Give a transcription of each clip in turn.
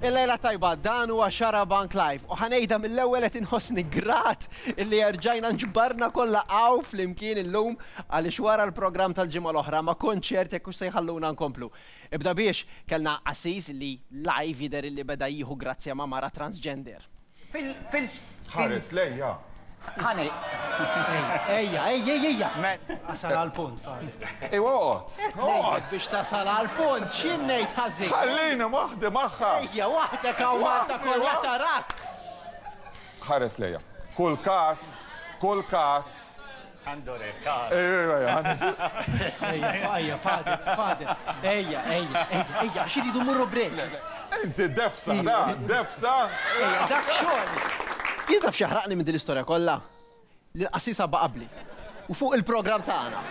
Il-lejla tajba, dan huwa Xarabank Live u ħa ngħidha mill-ewwel qed inħossni grat illi erġajna nġbarna kollha hawn flimkien illum għaliex wara l-programm tal-ġimgħa l-oħra ma kontx ċert jekk hux se jħalluna nkomplu. Ibda biex, kellna qassis li live jidher illi beda jieħu grazzja ma' mara transgender. Ħares lejja. Ħa ngħid. Ejja, ejja, ejja! Wasal għall-punt, Farid. Ejwa oqgħod. Oqgħod! Biex tasal għall-punt, x'jien ngħid ħażin? Ħallini waħdi magħha! Ejja, waħdek hawn Malta kollha tarak! Ħares lejja. Kull każ, kull każ, Għandu rekar. Ejja, ejja, ejja, għandu ġu. Ejja, ejja, fadil, fadil. Ejja, ejja, ejja, ejja, għax iridu mmorru break. Inti defsa, da, defsa. Ejja, dak xogħol. Jien taf x'jaħraqni minn din l-istorja kollha? Li l-qassis għabba qabli. U fuq il-programm tagħna.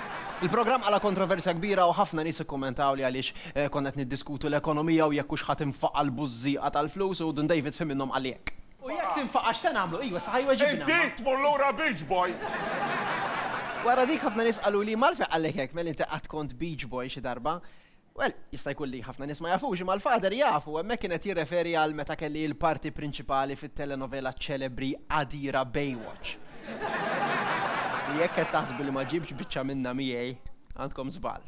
Il-programm qala' kontroversja kbira u ħafna nies ikkummentawli għaliex konna qed niddiskutu l-ekonomija u jekk hux ħa tinfaqa' l-bużżieqa tal-flus u Dun David f'ħin minnhom qalli hekk. U jekk tinfaqa' x'se nagħmlu? Ejwa, saħa jweġibna. Inti tmur lura Beach Boy! Wara dik ħafna nies qaluli, Malfej qallek hekk, mel inti qatt kont Beach Boy xi darba? Well, jista' jkun li ħafna nies ma jafux, imma l-Father jaf u hemmhekk kien qed jirreferi għal meta kelli l-parti prinċipali fit-telenovela ċelebri qadira Baywatch. U jekk qed taħsbu li ma ġibtx biċċa minnha miegħi, għandkom żball.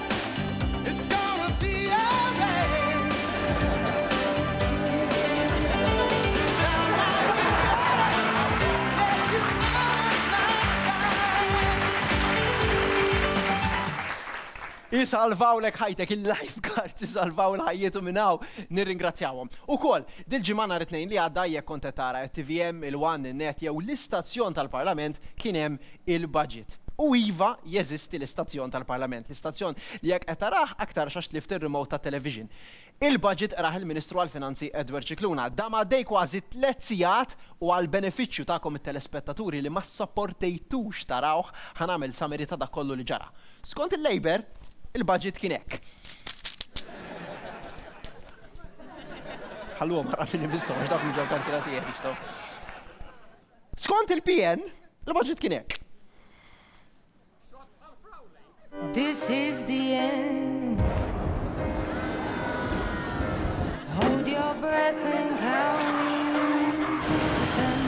Isalvawlek ħajtek, il-life guards isalvaw il-ħajjietu minn hawn, nirringrazzjawhom. Ukoll, dil-ġimgħa nhar it-Tnejn li għadda jekk kont qed tara t-TVM, il-One, in-Net jew l-istazzjon tal-Parlament kien hemm il-budget. U iva, jeżisti l-istazzjon tal-Parlament, l-istazzjon li jekk qed tarah aktarx għax tlift ir-remote tat-television. Il-budget qrah il-Ministru għall-Finanzi Edward Scicluna. Dam għaddej kważi tliet sigħat u għall-benefiċċju tagħkom it-telespettaturi li ma ssopportejtux tarawh, ħa nagħmel summary ta' dak kollu li ġara. Skont il-Labour, il-budget kien hekk. Ħalluhom ara min imisshom għax dawk mhux ġew kalkulati jekk jixtgħu. Skont il-PN, il-budget kien hekk. This is the end. Hold your breath and count to ten.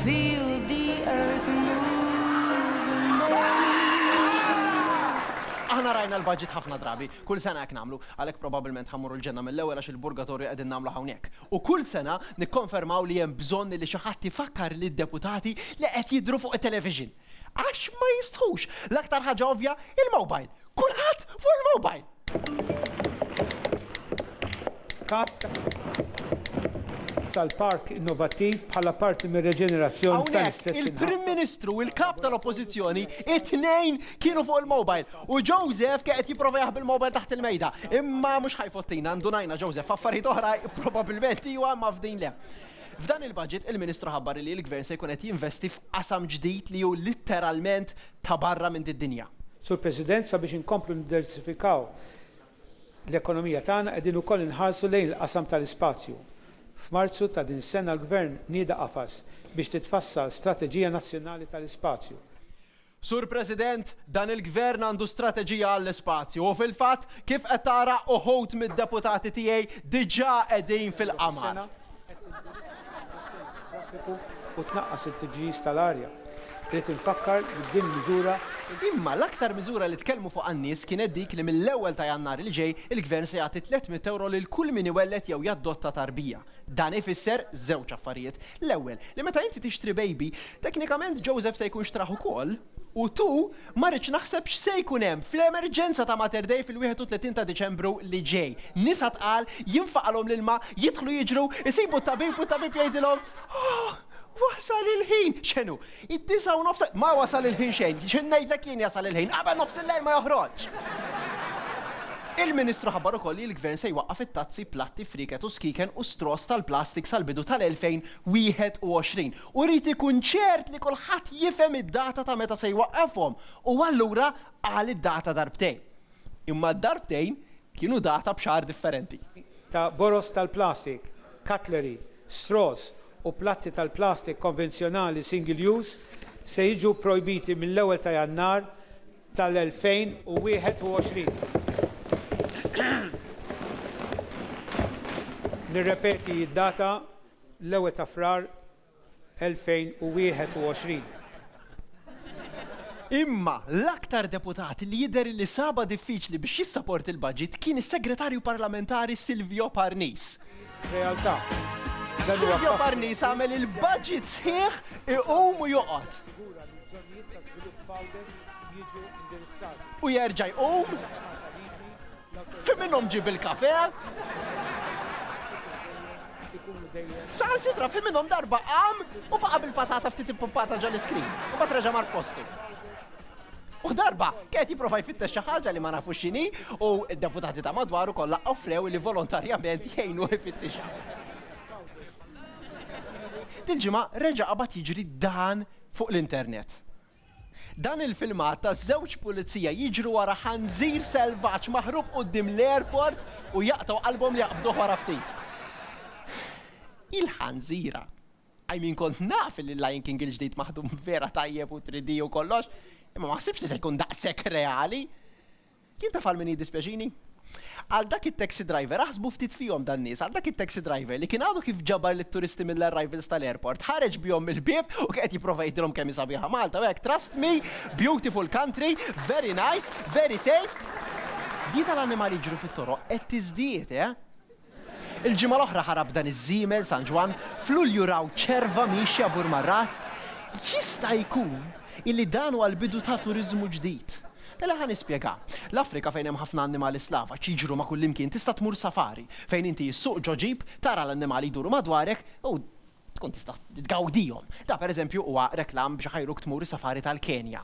Feel the earth moving. Aħna rajna l-budget ħafna drabi, kull sena hekk nagħmlu, għalhekk probabbilment ħammur l-ġenna mill-ewwel għax il-burgatorju qegħdin nagħmlu hawnhekk. u kull sena nikkonfermaw li hemm bżonn li xi ħadd ifakkar lid-deputati li qed jidhru fuq it-television. Għax ma jistħux. L-aktar ħaġa ovvja, il-mobile. Kulħadd fuq il-mobile! F'każ ta' issa l-park innovattiv bħala parti mir-reġenerazzjoni tal-istess inħaffef. Hawnhekk il-Prim Ministru u l-Kap tal-Oppożizzjoni t-tnejn kienu fuq il-mobile. U Joseph kien qed jipprova jaħbi l-mobile taħt il-mejda. Imma mhux ħa jfottina, ndunajna Joseph f'affarijiet oħra probabbilment iwa imma f'din le. F'dan il-budget il-Ministru ħabbar li l-Gvern se jkun qed jinvesti f'qasam ġdid li hu litteralment ta' barra minn did-dinja. Sur President, sabiex inkomplu niddersifikaw l-ekonomija tagħna qegħdin ukoll inħarsu lejn il-qasam tal-ispazju. F'Marzu ta' din is-sena l-Gvern nieda qafas biex titfassal strateġija nazzjonali tal-ispazju. Sur President, dan il-Gvern għandu strateġija għall-ispazju u fil-fatt, kif qed tara, uħud mid-deputati tiegħi diġà qegħdin fil-qamar. u tnaqqas it-tiġġiż tal-arja. Irrid infakkar li b'din il-miżura, Imma l-aktar miżura li tkellmu fuqha n-nies kienet dik li mill-ewwel ta' Jannar li ġej il-Gvern se jagħti 300 ewro lil kull min iwelled jew jaddotta tarbija. Dan ifisser żewġ affarijiet. L-ewwel, li meta inti tixtri bejbi, teknikament Joseph se jkun xtrah ukoll, u tu, ma rridx naħseb x'se jkun hemm fl-emerġenza ta' Mater Dei fil-31 ta' Diċembru li ġej. Nisa tqal, jinfaqalhom l-ilma, jidħlu jiġru, isibu t-tabib u t-tabib jgħidilhom, Ohh! Wasal il-ħin! X'inhu? Id-disgħa u nofs. Ma wasal il-ħin xejn. X'in ngħidlek jien jasal il-ħin. Qabel nofs il-lejl ma joħroġx! Il-Ministru ħabbar ukoll li l-Gvern se jwaqqaf it-tazzi, platti, frieket u skieken u straws tal-plastik sal-bidu tal-2021 u jrid ikun ċert li kulħadd jifhem id-data ta' meta se jwaqqafhom u allura qal id-data darbtejn. Imma d-darbtejn kienu data b'xagħar differenti. Ta' boroż tal-plastik, cutlery, straws u platti tal-plastik konvenzjonali single use se jiġu pprojbiti mill-ewwel ta' Jannar tal-2021. Nirrepeti d-data, l-ewwel ta' Frar 2021. Imma l-aktar deputat li jidher li sabha diffiċli biex jissaporti l-budget kien is-Segretarju Parlamentari Silvio Parnis. Realtà. Silvio Parnis għamel il-budget sħiħ iqum u joqgħod. U jerġa' jqum. Fi minnhom ġib il-kafe? Saħan sitra fi minnhom darba qam u baqa' bil-patata ftit impumpata ġol iskrin u bat reġa' mar postu. U darba, kienet jiprofa jfittex xi ħaġa li ma nafu x'inhi u d-deputati ta' madwaru kollha offrew li volontarjament jgħinu jfittixha. Dil-ġimgħa reġa' qabad jiġri dan fuq l-internet. Dan il-filmat ta' żewġ pulizija jiġru wara ħanżir selvaġġ maħrub quddiem l-airport u jaqtgħu qalbhom li jaqbduh wara ftit. Il-ħanżira! I mean kont naf li l-Lion King il-ġdid maħdum vera tajjeb u 3D u kollox, imma ma ħsibtx li se jkun daqshekk reali! Jien taf għal min jiddispjaċini? Għal dak it-taxi driver, aħsbu ftit fihom dan-nies, għal dak it-taxi driver li kien għadu kif ġabar lit-turisti mill-arrivals tal-airport, ħareġ bihom mill-bieb u kien qed jipprova jgħidilhom kemm hi sabiħa Malta u hekk, trust me, beautiful country, very nice, very safe. Din tal-annimali jiġru fit-toroq qed tiżdied, eh? Il-ġimgħa l-oħra ħarab dan iż-żiemel San Ġwann, f'Lulju raw ċerva miexja b'ur mar-ragħad. Jista' jkun illi dan huwa l-bidu ta' turiżmu ġdid. Mela ħa nispjega. L-Afrika fejn hemm ħafna annimali slavaġ jiġru ma' kullimkien tista' tmur safari, fejn inti issuq ġo ġip, tara l-annimali jduru madwarek u tkun tista' tgawdihom. Dan pereżempju huwa reklam biex iħajruk tmur is-safari tal-Kenja.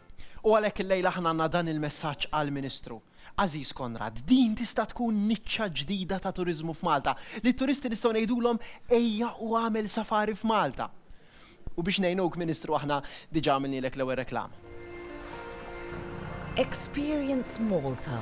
U għalhekk illejla aħna għandna dan il-messaġġ għall-Ministru. Għażiż Konrad, din tista' tkun niċċa ġdida ta' turiżmu f'Malta, li t-turisti nistgħu ngħidulhom ejja u agħmel safari f'Malta. U biex ngħinuk, Ministru, aħna diġà għamilnielek l-ewwel reklama. Experience Malta.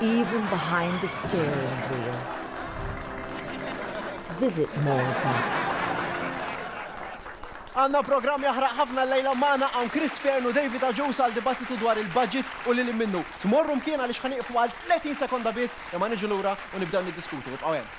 Even behind the steering wheel. Visit Malta. Għanna programm jaħraq ħafna l-lejla maħna għan Chris Fern u David Aġus għal dibattitu dwar il-budget u li minnu. Tmorru mkien għalix ħaniqfu għal 30 sekonda bis imma niġu lura u nibdew niddiskutu. Ibqaw hemm.